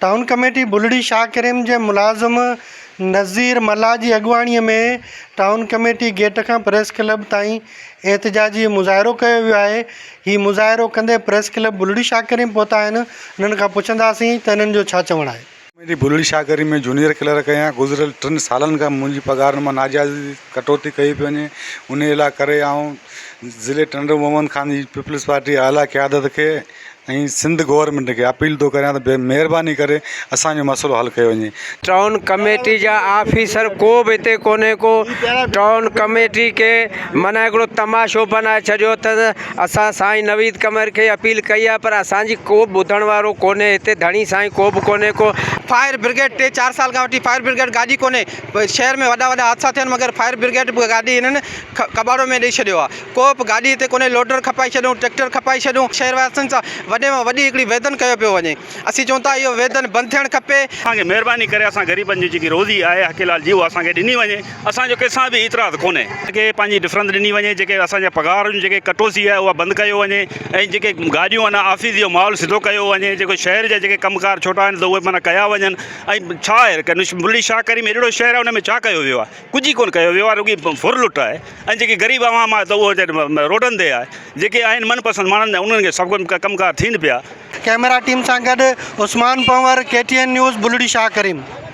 Town committee Bulri Shah Karim جي ملازم نذير ملاح جي اڳواڻي ۾ ٽائون ڪميٽي گيٽ کان پريس ڪلب تائين احتجاجي مظاهرو ڪيو ويو آهي هي مظاهرو ڪندي پريس ڪلب بلڙي شاهه ڪريم پهتا آهن انهن کان پڇنداسين ته انهن جو ڇا چوڻ آهي. Committee Bulri Shah Karim ۾ junior clerk آهيان گذريل ٽن سالن کان منهنجي پگهار مان ناجائز ڪٽوتي ڪئي پئي وڃي انهي لا ڪري آئون ضلعي ٽنڊو محمد خان جي پيپلز پارٽي اعليٰ قيادت کي ۽ سنڌ گورنمينٽ کي اپيل ٿو ڪريان ته مهرباني ڪري اسان جو مسئلو حل ڪيو وڃي. ٽائون ڪميٽي جا آفيسر ڪو به هتي ڪونهي ڪو ٽائون ڪميٽي کي معنيٰ هڪڙو تماشو بنائي ڇڏيو اٿس اسان سائين نويد قمر کي اپيل ڪئي آهي پر اسان جي ڪو به ٻڌڻ وارو ڪونهي هتي ڌڻي سائين ڪو به ڪونهي ڪو فائر برگيڊ ٽي چار سال کان وٺي فائر برگيڊ گاڏي ڪونهي شهر ۾ وڏا وڏا حادثا ٿيا آهن مگر فائر برگيڊ گاڏي هنن ڪٻاڙو ۾ ڏئي ڇڏيو آهي. ڪو به گاڏي هتي ڪونهي، لوڊر کپائي ڇڏيون، ٽريڪٽر کپائي ڇڏيون، شهر واسين سان وڏي مان وڏي هڪڙي ويڌن ڪيو پيو وڃي، اسين چئون ٿا اهو ويڌن بند ٿيڻ کپي. اسان کي مهرباني ڪري اسان غريبن جي جيڪي روزي آهي حقي لال جي اها اسان کي ڏني وڃي اسان جو ڪنسان به اعتراض ڪونهي. اسان کي پنهنجي ڊفرنس ڏني وڃي جيڪي اسان جا پگهار جون جيڪي ڪٽوسي آهي اها بند ڪيو وڃي ۽ جيڪي گاڏيون آهن آفيس جو ماحول سڌو ڪيو وڃي جيڪو شهر جا جيڪي ڪم ڪار ڇوٽا آهن ته اهي معنيٰ ڪيا وڃن ۽ ڇا آهي ڪنوش ملي شاهه ڪريم اهڙو شهر آهي ان ۾ ڇا ڪيو ويو آهي. ڪجهه ئي ڪونه ڪيو ويو آهي رڳي ڦر لٽ آهي ۽ جيڪي غريب عوام آهي ته اهو ويچاري روڊن تي آهي جيڪي آهن من پسند ماڻهن انهن کي سڀ ڪجهه ڪم ڪار ٿين پيا. ڪئميرا ٽيم سان گڏ Usman Panhwar, K T N News, Bulri Shah Karim.